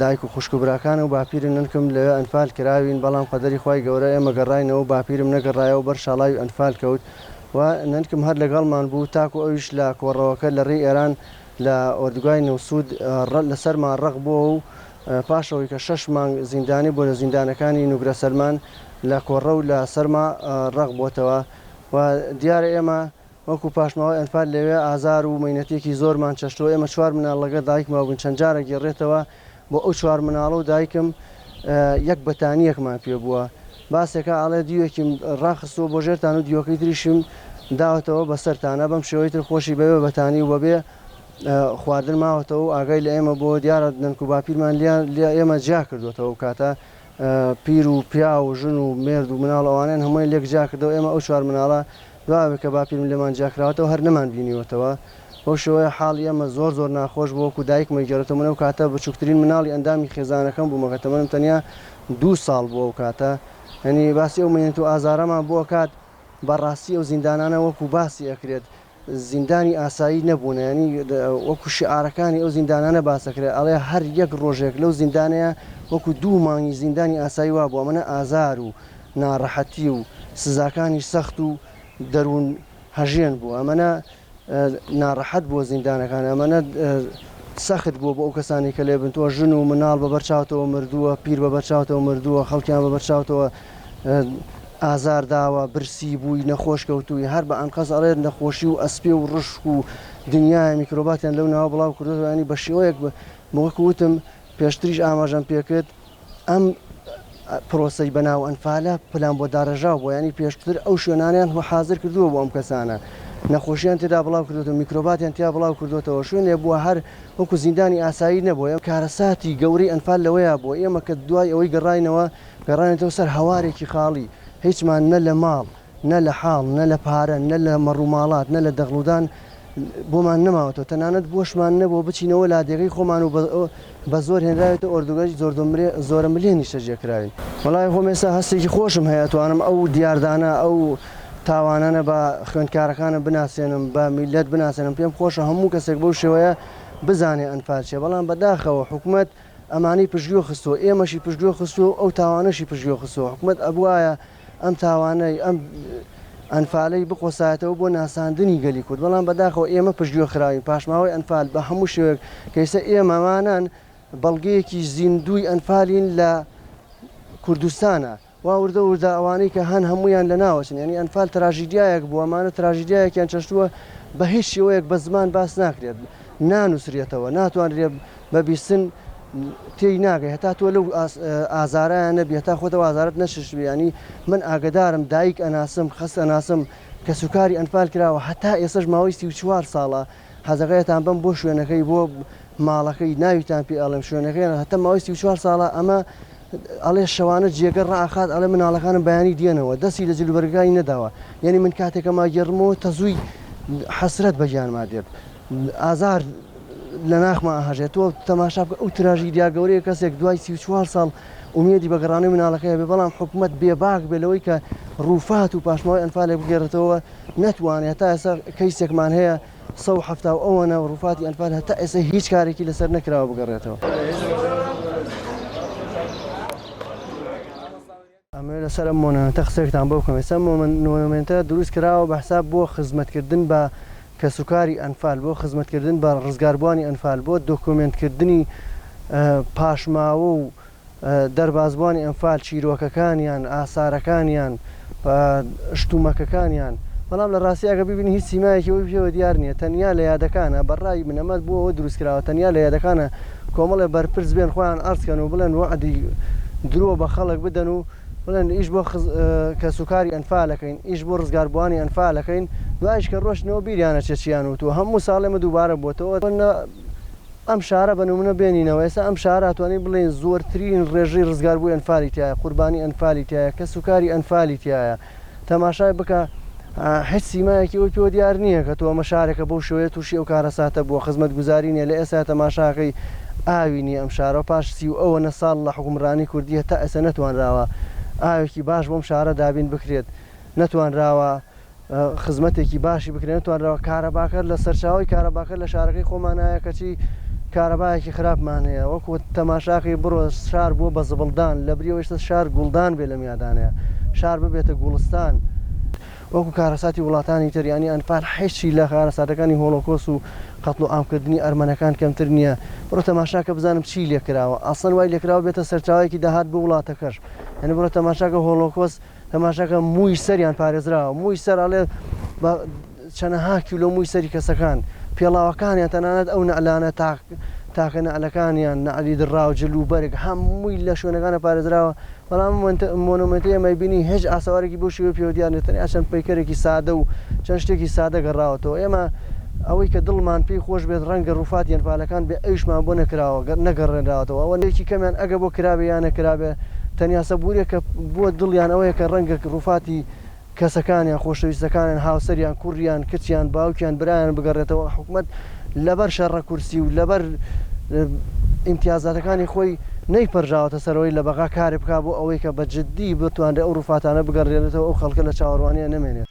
دایک و خوشک و براکانم و باپیرن ننکم لەوێ ئەنفال کراوین بەڵام قەدەری خوای گەورە ئێمە گەڕاینەوە و باپیرم نەگەڕایەوە بەر شاڵاوی ئەنفال کەوت و ننکم هەر لەگەڵمان بوو تاکو ئەویش لە کۆڕەوەکە لە ڕێی ئێران لە ئۆردوگای نەوسود لەسەرمان ڕەق بۆوە و پاشەوەی کە شەش مانگ زیندانی بوو لە زیندانەکانی نوگرە سەلمان لە کۆڕە و لە سەرما ڕەق بۆتەوە و دیارە ئێمە وەکو پاشماوەی ئەنفال لەوێ ئازار و مەینەتێکی زۆرمان چەشتووە، ئێمە چوار مناڵ لەگەڵ دایکم مابووین، چەند جارە گێڕێتەوە بۆ ئەو چوار مناڵە و دایکم یەک بەتانییەکمان پێ بووە، باسێکا ئەڵێ دیوێکیم ڕاخستووە بۆ ژێرتان و دیوەکەی تریشیم داوەتەوە بەسەرتانا، بەم شێوەی تر خۆشی بەبێ بەتانی و بەبێ خواردن ماوەتەوە و ئاگای لە ئێمە بووە، دیارە نەنک و باپیرمان لە ئێمە جیا کردووەتەوە ئەو کاتە پیر و پیاو و ژن و مێرد و مناڵ ئەوانەیان هەموویان لێک جیا کردەوە، ئێمە ئەو چوار مناڵە دوابێ کە باپیرم لێمان جیاکراوەتەوە هەر نەمانبینیوەتەوە، بەو شێوەیە حاڵی ئێمە زۆر زۆر ناخۆش بوو، وەکو دایکمە گێڕێتەوە، من ئەو کاتە بچووکترین مناڵی ئەندامی خێزانەکەم بووم، کە تەمەنم تەنیا دوو ساڵ بوو ئەو کاتە، یانی باسی ئەو مەینەت و ئازارەمان بۆ ئەکات، بەڕاستی ئەو زیندانانە وەکو باسی ئەکرێت زیندانی ئاسایی نەبوونە، یانی وەکو شیعارەکانی ئەو زیندانانە باس ئەکرێت ئەڵێ هەر یەک ڕۆژێک لەو زیندانەیە وەکو دوو مانگی زیندانی ئاسایی وابوو، ئەمەنە ئازار و. ناڕەحەتی و سزاکانی سەخت و دەروون هەژێن بوو ئەمەە ناڕەحەت بووە زیندانەکان ئەمەە سەخت بووە بۆ ئەو کەسانی کە لێ بنتووە ژن و مناڵ بە بەرچاوتەوە مردووە پیر بە بەرچاوتەوە مردووە خەڵکیان بە بەرچاوتەوە ئازار داوە برسی بووی نەخۆش کەوتووی هەر بە ئەنقەز ئەڵێت نەخۆشی و ئەسپێ و ڕشک و دنیای میکرۆباتیان لەو ناوە بڵاو کردوانی بە شێوەیەک بە مۆک وتم پێشتریش ئاماژەم پێکرد ئەم پرۆسەی بەناو ئەنفالە پلان بۆ داڕێژاو بۆ ینی پێشتر ئەو شوێنانیان هو حاضر کردووە بۆ ئەم کەسانە نەخۆشیان تێدا بڵاو کردوەوە میکرۆباتیان تیا بڵاو کردوێتەوە شوێنێ بووە هەر وەکو زیندانی ئاسایی نەبووە ئەم کارەساتی گەوری ئەنفال لەوەیە بۆ ئێمە کە دوای ئەوەی گەڕینەوە گەڕانێتەوە سەر هەوارێکی خاڵی هیچمان نە لە ماڵ نە لە حاڵ، نە لە پارە، نە لە مەڕوماڵات، نە لە دەغڵودان بۆمان نەماوەتەوە، تەنانەت بۆشمان نەبووە بچینەوە لادێگەی خۆمان و بە زۆر هێنراوێتە ئۆردوگای زۆرەملێ نیشتەجێ کراوین. وەڵای خۆم ئێستا هەستێکی خۆشم هەیە ئەتوانم ئەو دیاردانە، ئەو تاوانانە بە خوێندکارەکانم بناسێنم، بە میللەت بناسێنم، پێم خۆشە هەموو کەسێک بەو شێوەیە بزانێ ئەنفال چیە، بەڵام بەداخەوە حکومەت ئەمانەی پشتگوێ خستووە، ئێمەشی پشتگوێ خستووە و ئەو تاوانەشی پشتگوێ خستووە، حکومەت ئەبوایە ئەم تاوانەی ئەم ئەنفالەی بقۆسایەتەوە بۆ ناساندنی گەلی کورد بەڵام بەداخەوە ئێمە پشتگوێ خراوین پاشماوەی ئەنفال بە هەموو شێوەیەک کەیسە ئێمەمانان بەڵگەیەکی زیندوی ئەنفالین لە کوردستانە وا وردە وردە ئەوانەی کە هەن هەمویان لە ناوەچن ینی ئەنفال تراژیدیایەک بووە مانە تراژیدایەکیان چەشتووە بە هیچ شێوەیەک بە زمان باس ناکرێت نانووسرێتەوە ناتوانرێت بە بیستن تێی ناگەی هەتا تۆ لەو ئازارایان نەبی هەتا خۆتەوە ئازارت نەششبی ینی من ئاگدارم دایک ئەناسم خەست ئەناسم کە سوکاری ئەنفال کراوە هەتا ئێسش ماوەی سی و چوار ساڵە حەزەکەیتان بم بۆ شوێنەکەی بۆ ماڵەکەی ناویتان پێ ئەڵم شوێنەکەیان هەتا ماوەی سی و چوار ساڵە ئەمە ئەڵێ شەوانە جێگە ڕاخات ئەڵێ مناڵەکانم بەیانی دێنەوە دەستی لە جلوبەرگەکانی نەداوە یعنی من کاتێکە ماگەڕمەوە تەزووی حەسرەت بەگیانما دێت ئازار لە ناخما ئەهەژێت، تۆ تەماشا بکە ئەو تراژیدیا گەورەیە کەسێک دوای سی و چوار ساڵ ئومێدی بە گەڕانەوەی مناڵەکەی هەبێت، بەڵام حکومەت بێباک بێت لەوەی کە رووفات و پاشماوەی ئەنفالێک بگێڕێتەوە نەتوانێت، هەتا ئێستا کەیسێکمان هەیە سەد و حەفتا و ئەوەنە رووفاتی ئەنفال هەتا ئێستا هیچ کارێکی لەسەر نەکراوە بگەڕێتەوە. ئەمەوێت لەسەر ئەم مۆنۆمێنتە قسەێکتان بۆ بکەم، ئێستا مۆنۆمێنتە دروست کراوە بە حساب بۆ خزمەتکردن بە کەسوکاری ئەنفال، بۆ خزمەتکردن بە ڕزگاربووانی ئەنفال، بۆ دۆکۆمێنتکردنی پاشماوە و دەربازبووانی ئەنفال، چیرۆکەکانیان، ئاسارەکانیان، شتومەکەکانیان، بەڵام لە ڕاستی ئەگەر بیبینی هیچ سیمایەکی ئەوی پێوە دیار نییە، تەنیا لە یادەکانە، بە ڕای من ئەمە بۆ ئەوە دروست کراوە تەنیا لە یادەکانە. کۆمەڵێ بەرپرس بێن خۆیان عەرز کەن و بڵێن وەعدی درۆ بە خەڵک بدەن و بڵێن ئیش بۆ کەسوکاری ئەنفالەکەین ئیش بۆ ڕزگاربووانی ئەنفالەکەین دوایش کە ڕۆشتنەوە بیریانە چێچیان وتووە هەموو ساڵێمە دووبارە بۆتەوە ئەم شارە بە نمونە بێنینەوە ئێستا ئەم شاراتوانین بڵێن زۆرترین ڕێژەی ڕزگاربووی ئەنفالی تایە قوربانی ئەنفالی تایە کەسوکاری ئەنفالی تایە تەماشای بکە هیچ سیمایەکی ئەوی پێوە دیار نییە کە تۆ ئەمە شارێکە بەو شێوەیە تووشی ئەو کارەساتە بووە خزمەتگوزاری نیە لە ئێستا تەماشاکەی ئاوی نییە ئەم شارەوە پاش سی و ئەوەنە ساڵ لە حکومڕانی کوردی هەتا ئێستا نەتوانراوە ئاوێکی باش بۆم شارە دابین بکرێت نەتوانراوە خزمەتێکی باشی بکرێن نەتوانراوە کارەباکە لە سەرچاوی کارەباکە لە شارەکەی خۆمانایە کەچی کارەبایەکی خراپمانەیە وەکو تەماشاکەی بڕۆ شار بووە بە زبڵدان لە بریەوەشتە شار گوڵدان بێ لە بنیادانێ شار ببێتە گوڵستان وەکو کارەساتی وڵاتانی تر ینی ئەنفال حیچی لە کارەساتەکانی هۆڵۆکۆس و قەتڵ و ئامکردنی ئەرمەنەکان کەمتر نییە بڕۆ تەماشاکە بزانم چی لێکراوە ئاسن وای لێکراوە بێتە سەرچاوێکی داهات بۆ وڵاتەکەش هەنی بڕۆ تەماشاکە هۆڵۆکۆس تەماشاکە مووی سەریان پارێزراوە مووی سەر ئەڵێ چەنەها کیلۆ مووی سەری کەسەکان، پێڵاوەکانیان تەنانەت ئەو نەعلانە تاک تاکە نەعلەکانیان، نەعلی دڕاو، جل و بەرگ هەمووی لە شوێنەکانە پارێزراوە، بەڵام ئەم مۆنۆمێنتەی ئێمەی بینی هێج ئاسەوارێکی بەو شێوەی پێوە دیار نیە تەنیا چەند پەیکەرێکی سادە و چەند شتێکی سادە گەڕاوەتەوە ئێمە ئەوەی کە دڵمان پێی خۆش بێت ڕەنگە ڕووفاتی ئەنفالەکان بێ ئەویشمان بۆ نەکراوە گەر نەگەڕێنراوەتەوە ئەوە لێکی کەمیان ئەگە بۆ کرابێ یان نەکرابێ تەنیا سەبوورێکە بۆ دڵیان ئەوەیە کە ڕەنگە ڕووفاتی کەسەکانیان، خۆشەویستەکانیان، هاوسەریان، کوڕ یان کچ یان باوک یان برایان بگەڕێتەوە، حکومەت لەبەر شەڕە کورسی و لەبەر ئیمتیازاتەکانی خۆی نەیپەرژاوەتە سەرەوەی لە بەغا کارێک بکات بۆ ئەوەی کە بە جدی بتوانرێت ئەو روفاتانە بگەڕێنرێتەوە ئەو خەڵکە لە چاوەڕوانییە نەمێنێت.